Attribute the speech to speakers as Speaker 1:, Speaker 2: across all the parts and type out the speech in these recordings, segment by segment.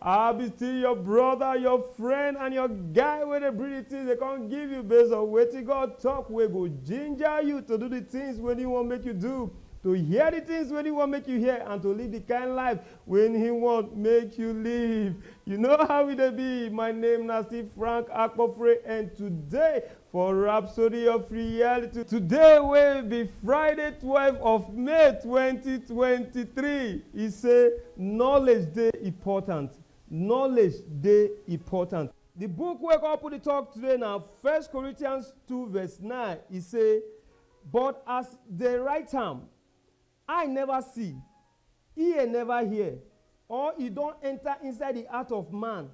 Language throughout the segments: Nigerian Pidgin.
Speaker 1: I be still your brother, your friend and your guy wey dey bring the things dey come give you based on wetin God talk wey go ginger you to do the things wey he wan make you do, to hear the things wey he wan make you hear and to live the kind life wey he want make you live. You know how e dey be, my name na still Frank Akpofre and today For Rhapsody of Reality today wey be Friday twelve of May twenty twenty three, e say knowledge dey important, knowledge dey important. Di book wey come put di tok today na First Corinthians two verse nine, e say, But as dem write am, Eye neva see, ear neva hear, or e don enta inside di heart of man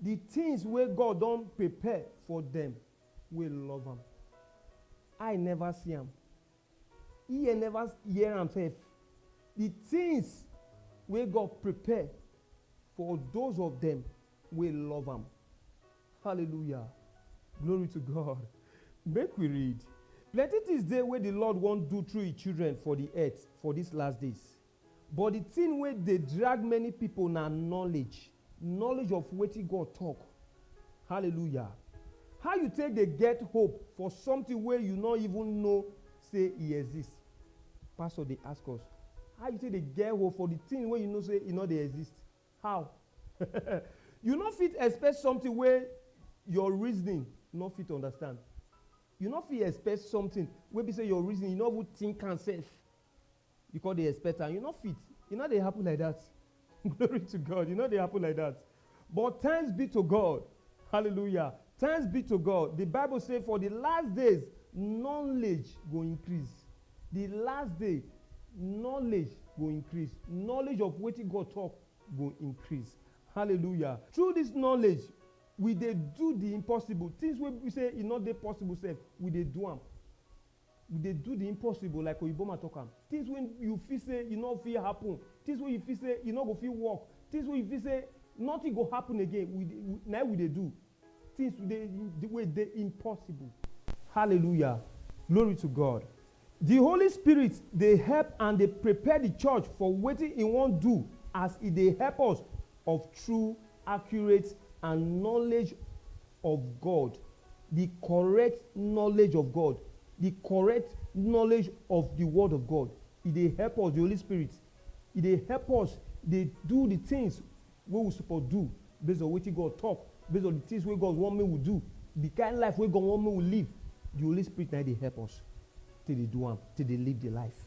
Speaker 1: di tins wey God don prepare for dem wey love am. Eye neva see am, ear neva hear am sef, di tins wey God prepare for those of dem wey love am. Hallelujah! Glory to God! Make we read. Plenty tins dey wey di Lord wan do through e children for di earth for dis last days. But di tin wey dey drag many pipo na knowledge, knowledge of wetin God tok. Hallelujah! How you take dey get hope for sometin wey you no even know sey e exist? Pastor dey ask us, how you take dey get hope for di tin wey you know sey e no dey exist? How? You no fit expect something wey your reasoning no fit understand. You no fit expect something wey be say your reasoning, you no even think am sef, you come dey expect am. You no fit. E no dey happen like that. Glory to God. E no dey happen like that. But thanks be to God. Hallelujah. Thanks be to God, di Bible say for di last days knowledge go increase. Di last day knowledge go increase. Knowledge of wetin God talk go increase. Hallelujah! Through dis knowledge, we dey do di impossible, tins wey be say e no dey possible sef, we dey do am. We dey do the impossible like Oyibo man talk am, things wey you feel say e no fit happen, things wey you feel say e no go fit work, things wey you feel say nothing go happen again, we dey we na im we dey do, things we dey the way dey impossible. Hallelujah! Glory to God! The Holy Spirit dey help and dey prepare the church for wetin e wan do as e dey help us of true, accurate and knowledge of God, di correct knowledge of God, di correct knowledge of di word of God. E dey help us, di Holy Spirit, e dey help us dey do di tins wey we suppose do base on wetin God talk, base on di tins wey God want make we do, di kain life wey God want make we live, di Holy Spirit na im dey help us take dey do am, take dey live di life.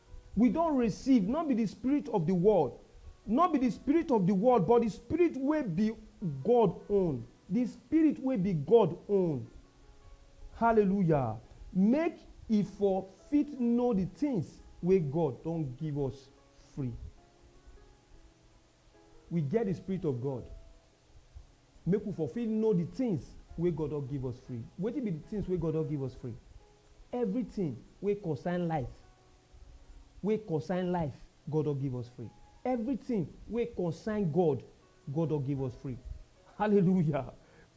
Speaker 1: We don receive, nor be di spirit of di world, nor be di spirit of di world, but di Spirit wey be God own, di Spirit wey be God own, Hallelujah, make e for fit know di tins wey God don give us free. We get di Spirit of God. Make we for fit know di tins wey God don give us free. Wetin be di tins wey God don give us free? Evritin wey concern life, wey concern life, God don give us free. Evritin wey concern God, God don give us free. Hallelujah!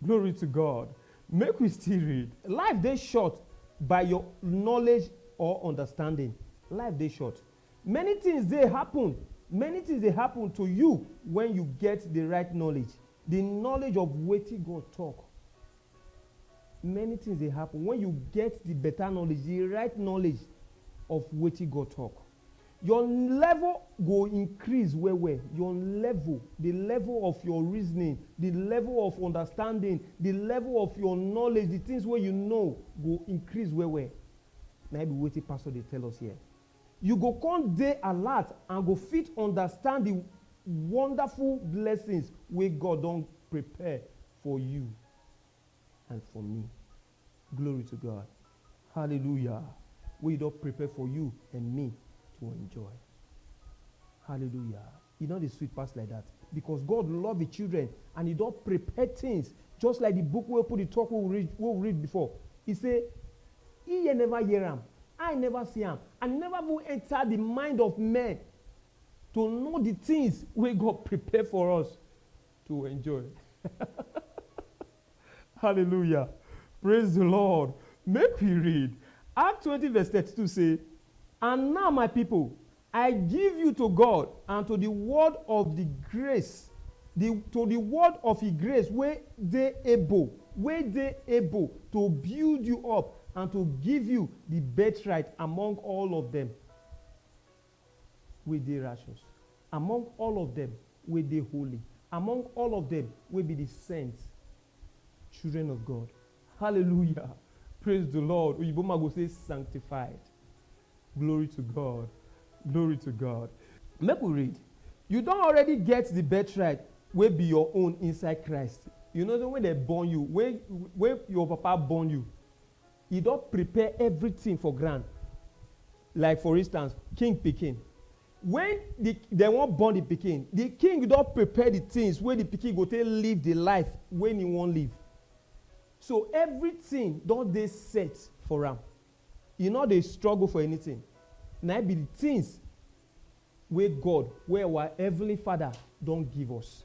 Speaker 1: Glory to God! Make we still read. Life dey short by your knowledge or understanding. Life dey short. Many tins dey happun Many tins dey happun to you wen you get di right knowledge, di knowledge of wetin God tok. Many tins dey happun wen you get di betta knowledge, di right knowledge of wetin God tok. Your level go increase well-well, your level, di level of your reasoning, di level of understanding, di level of your knowledge, di tins wey you know go increase well-well. Na im be wetin Pastor dey tell us here. You go kon dey alert and go fit understand di wonderful blessings wey God don prepare for you and for me. Glory to God! Hallelujah! Wey E don prepare for you and me to enjoy. Hallelujah! E no dey sweet pass like dat because God love Him children and He don prepare things just like the book wey open the talk wey we read wey we read before. He say, Ear never hear am, eye never see am, and e never even enter the mind of men to know the things wey God prepare for us to enjoy. Hallelujah! Praise the Lord! Make we read Act twenty verse thirty two say, And now, my people, I give you to God and to di word of di grace, di to di word of e grace wey dey able, wey dey able to build you up and to give you di birthright among all of dem wey dey righteous, among all of dem wey dey holy, among all of dem wey be di sent children of God. Hallelujah praise the Lord oyibo man go say sanctified glory to God glory to God make we read you don already get the birthright wey be your own inside Christ you know say when dem born you when when your papa born you he don prepare everything for ground like for instance king pikin Wen di dem wan born di pikin, di king don prepare di tins wey di pikin go take live di life wey im wan live. So evritin don dey set for am, e no dey struggle for anytin. Na im be di tins wey God, wey our Heavenly Father don give us.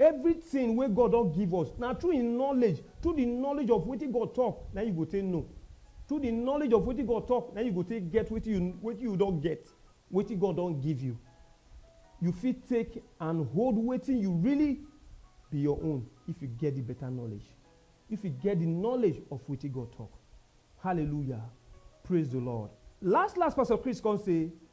Speaker 1: Everything wey God don give us, na through Him knowledge, through the knowledge of wetin God talk, na Him you go take know. Through the knowledge of wetin God talk, na Him you go take get wetin you wetin you don get, wetin God don give you. You fit take and hold wetin you really be your own if you get the better knowledge, if you get the knowledge of wetin God talk. Hallelujah! Praise the Lord! Last last, Pastor Chris come say,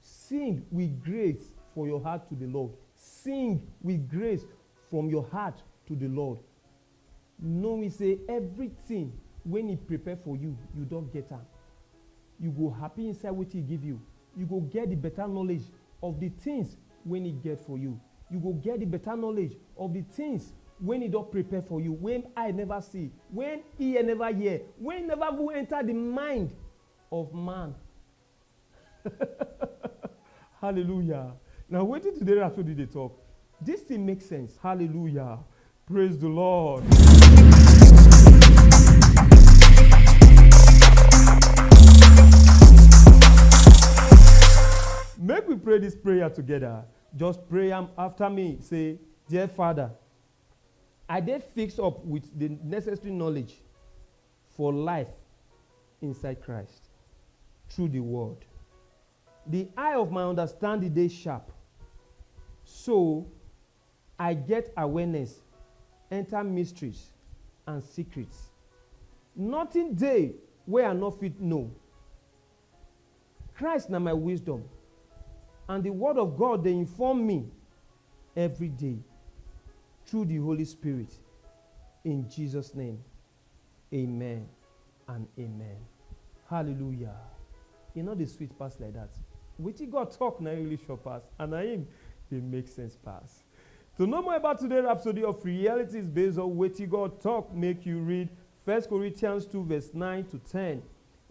Speaker 1: Sing with grace for your heart to the Lord. Sing with grace from your heart to the Lord, knowing say everything wey he prepare for you, you don get am. You go happy inside wetin he give you. You go get the better knowledge of the things wey he get for you. You go get the better knowledge of the things wey he don prepare for you, wey eye never see, wey ear never hear, wey never even enter the mind of man Hallelujah na wetin today Rhapsody dey talk. This thing make sense. Hallelujah. Praise the Lord. Make we pray this prayer together. Just pray am after me. Say, Dear Father, I dey fix up with the necessary knowledge for life inside Christ through di word. Di eye of my understanding dey sharp, so I get awareness enter mysteries and secrets. Nothing dey wey I nor fit know. Christ na my wisdom and di word of God dey inform me every day through di Holy Spirit in Jesus name. Amen and amen. Hallelujah. E no dey sweet pass like that. Wetin God talk na im really sure pass and na im dey make sense pass. To know more about today rhapsody of realities based on wetin God talk, make you read First Corinthians two verse nine to ten,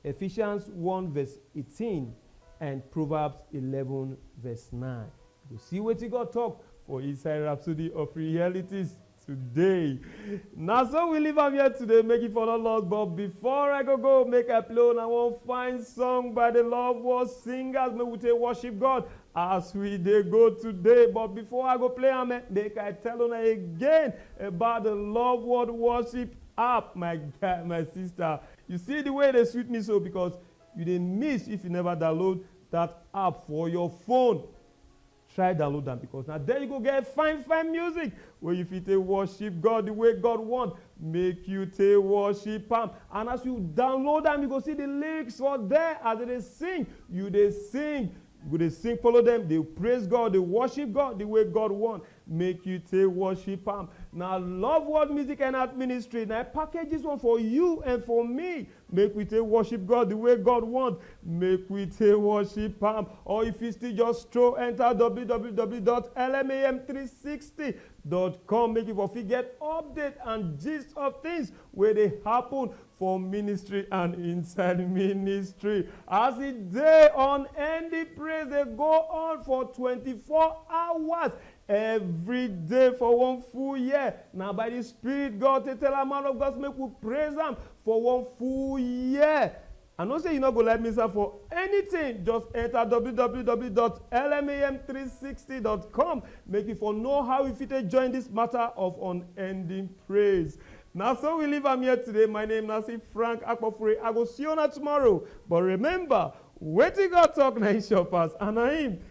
Speaker 1: Ephesians one verse eighteen and Proverbs eleven verse nine. You go see wetin God talk for inside rhapsody of realities. today na so we leave am here today make you for no loss but before i go go make i play una one fine song by the love world singers make we take worship god as we dey go today but before i go play am eh, make i tell una again about the love world worship app my guy my sister you see the way e dey sweet me so because you dey miss if you never download that app for your phone Try download am because na there you go get fine fine music wey you fit take worship God the way God want make you take worship am and as you download am you go see the lyrics for there as they dey sing you dey sing you go dey sing follow them dey praise God dey worship God the way God want make you take worship am na love world music and art ministry na package this one for you and for me Make we take worship God the way God want, make we take worship am or if you still just stroll enter www.lmam360.com make you for fit get update and gist of things wey dey happen for ministry and inside ministry. As e dey on end the praise dey go on for 24 hours Evri day for one full year. Na by di Spirit God take tell am, Man of God, make we praise am for one full year. I know say you no go like miss am for anytin, just enta www dot lmem three sixty dot com make you for know how you fit take join dis mata of unending praise. Na so we leave am here today, my name na still Frank Akpofure, I go see una tomorrow but remember, wetin God tok na im sure pass and na im